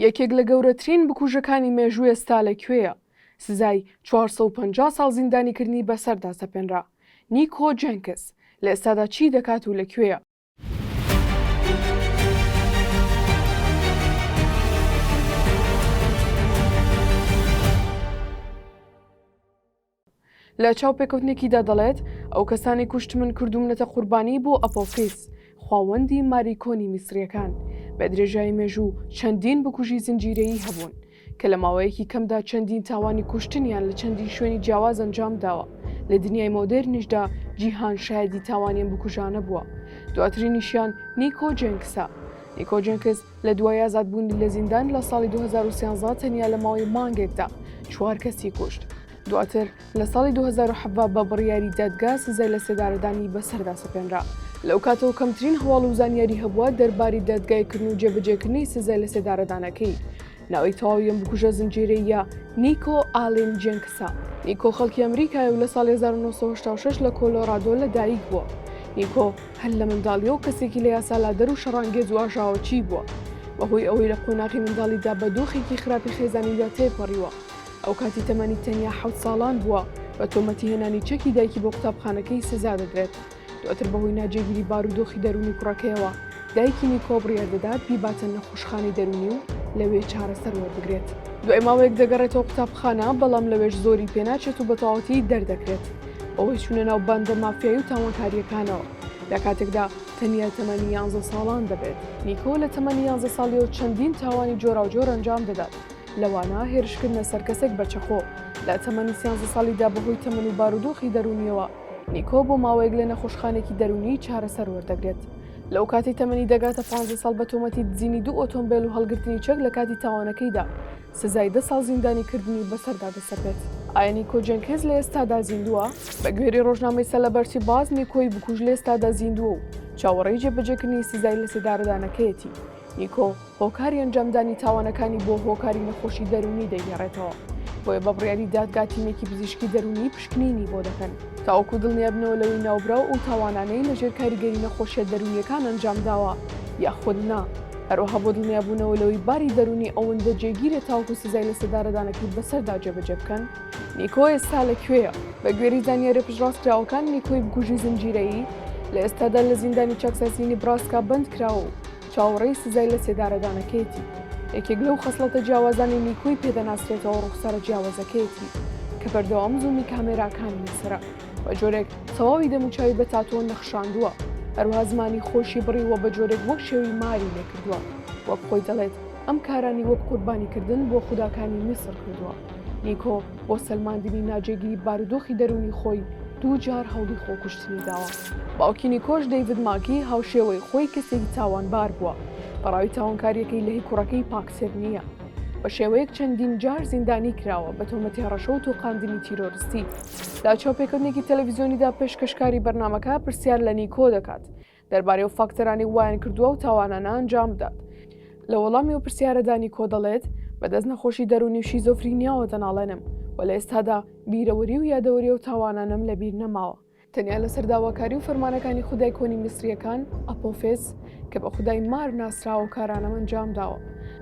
یەکێک لە گەورەترین بکوژەکانی مێژوو ئێستا لە کوێیە؟ سزای چوار سەد و پەنجا ساڵ زیندانیکردنی بەسەردا سەپێنرا. نیکۆ جێنکس لە ئێستادا چی دەکات و لە کوێیە؟ لە چاوپێکەوتنێکیدا دەڵێت، ئەو کەسانەی کوشتمن کردوومنەتە قوربانی بۆ ئەپۆفیس، خواوەندی ماری کۆنی میسرییەکان، بە درێژایی مێژوو چەندین بکوژی زنجیرەیی هەبوون، کە لە ماوەیەکی کەمدا چەندین تاوانی کوشتنیان لە چەندین شوێنی جیاواز ئەنجام داوە، لە دنیای مۆدێرنیشدا جیهان شایەدی تاوانی ئەم بکوژانە بووە، دواترینیشیان نیکۆ جێنکسە، Nico Jenkins، لە دوای ئازادبوونی لە زیندان لە ساڵی 2013 تەنیا لە ماوەی مانگێکدا چوار کەسی کوشت. دواتر لە ساڵی 2017 بە بڕیاری دادگا سزای لە سێدارەدانی بەسەردا سەپێنرا. لەو کاتەوە کەمترین هەواڵ و زانیاری هەبووە دەرباری دادگایکردن و جێبەجێکردنی سزای لە سێدارەدانەکەی. ناوی تەواوی ئەم بکوژە زنجیرەییە نیکۆ ئالین جێنکسە. نیکۆ خەڵکی ئەمریکایە و لە ساڵی 1986 لە کۆلۆرادۆ لەدایکبووە. نیکۆ، هەر لە منداڵییەوە کەسێکی لە یاسالادەر و شەڕانگێز و ئاژاوەچیی بووە، بەهۆی ئەوەی لە قۆناغی منداڵیدا بە دۆخێکی خراپی خێزانییدا تێپەڕیوە، ئەوکاتی تەمەنی تەنیا حەوت ساڵان بووە، بە تۆمەتی هێنانی چەکی دایکی بۆ قوتابخانەکەی سزا دەدرێت، دواتر بەهۆی ناجێگیری بارودۆخی دەروونی کوڕەکەیەوە، دایکی نیکۆ بڕیار دەدات بیباتە نەخۆشخانەی دەروونی و لەوێ چارەسەر وەربگرێت. دوای ماوەیەک دەگەڕێتەوە قوتابخانە، بەڵام لەوێش زۆری پێناچێت و بەتەواوەتی دەردەکرێت. بەهۆی چوونە ناو باندە مافیایی و تاوانکارییەکانەوە لە کاتێکدا تەنیا تەمەنی یانزە ساڵان دەبێت نیکۆ لە تەمەنی یانزە ساڵیەوە چەندین تاوانی جۆراوجۆر ئەنجام دەدات لەوانە هێرشکردنە سەر کەسێک بە چەقۆ لە تەمەنی سیانزە ساڵیدا بەهۆی تەمەن و بارودۆخی دەرونیەوە نیکۆ بۆ ماوەیەک لە نەخۆشخانێکی دەرونی چارەسەر وەردەگرێت لەو کاتی تەمەنی دەگاتە 15 ساڵ بە تۆمەتی دزینی دوو ئۆتۆمبیل و هەڵگرتنی چەک لە کاتی تاوانەکەیدا سزای دە ساڵ زیندانیکردنی بەسەردا دەسەپێت. ئایا نیکۆ جێنکێز لە ئێستادا زیندووە؟ بە گوێرەی ڕۆژنامەی سەلەبەرتی باز، نیکۆی بکوژ لە ئێستادا زیندووە و چاوەڕێی جێبەجێکردنی سزای لەسێدارەدانەکەیەتی. نیکۆ هۆکاری ئەنجامدانی تاوانەکانی بۆ هۆکاری نەخۆشی دەروونی دەگێڕێتەوە، بۆیە بە بڕیاری دادگا تیمێکی پزیشکی دەروونی پشکنینی بۆ دەکەن، تاوەکو دڵنیابنەوە لەوەی ناوبراو ئەو تاوانانەی لەژێر کاریگەری نەخۆشییە دەروونییەکان ئەنجامداوە یاخود نا. هەروەها بۆ دڵنیابوونەوە لەوەی باری دەروونی ئەوەندە جێگیرێت تاوەکو سزای لە سێدارەدانەکەی بەسەردا جێبەجێ بکەن نیکۆ ئێستا لە کوێیە بە گوێری زانیاریە پشتڕاستکراوەکان نیکۆی بکوژی زنجیرەیی لە ئێستادا لە زیندانی چاکسازی نیبراسکا بەند کراوە و چاوەڕێی سزای لە سێدارەدانەکەیەتی یەکێک لەو خەسڵەتە جیاوازانی نیکۆی پێدەناسرێتەوە ڕوخسارە جیاوازەکەیەتی کە بەردەوام زوومی کامێراکانی لەسرە. بە جۆرێک تەواوی دەموچاوی بە تاتۆ نەخشاندووە هەروها زمانی خۆشی بڕی وە بە جۆرێک وەک شێوی ماری لێکردووە وەک خۆی دەڵێت ئەم کارانی وەک قوربانیکردن بۆ خوداکانی میسر کردووە نیکۆ بۆ سەلماندنی ناجێگیری بارودۆخی دەرونی خۆی دوو جار هەوڵی خۆکوشتنی داوە باوکی نیکۆش دەیڤد ماکی هاوشێوەی خۆی کەسێکی تاوانبار بووە بەڕاوی تاوانکاریەکەی لەهی کوڕەکەی پاکتر نییە بە شێوەیەک چەندین جار زیندانی کراوە بە تۆمەتی هەڕەشە و تۆقاندنی تیرۆرستی لە چاوپێکەوتنێکی تەلەڤیزیۆنیدا پێشکەشکاری بەرنمەکە پرسیار لە نیکۆ دەکات دەربارەی و فاکتەرانی وایان کردووە و تاوانانە ئەنجام بدات لە وەڵامی و پرسیارەدا نیکۆ دەڵێت بەدەست نەخۆشی دەرونی و شیزۆفرینیاوە دەناڵێنم و لە ئێستادا بیرەوەری و یادەوەری و تاوانانم لەبیر نەماوە تەنیا لەسەر داواکاری و فەرمانەکانی خودای کۆنی میسریەکان ئەپۆفێس کە بە خودای مار ناسراوە کارانەم ئەنجام داوە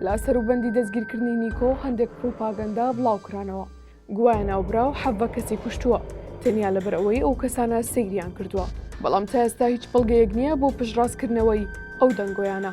لە سەروبەندی دەستگیرکردنی نیکۆ هەندێک پروپاگەندە بڵاوکرانەوە گوایە ناوبراو حەڤە کەسی کوشتووە تەنیا لەبەر ئەوەی ئەو کەسانە سەیریان کردووە، بەڵام تا ئێستا هیچ بەڵگەیەک نییە بۆ پشتڕاستکردنەوەی ئەو دەنگۆیانە.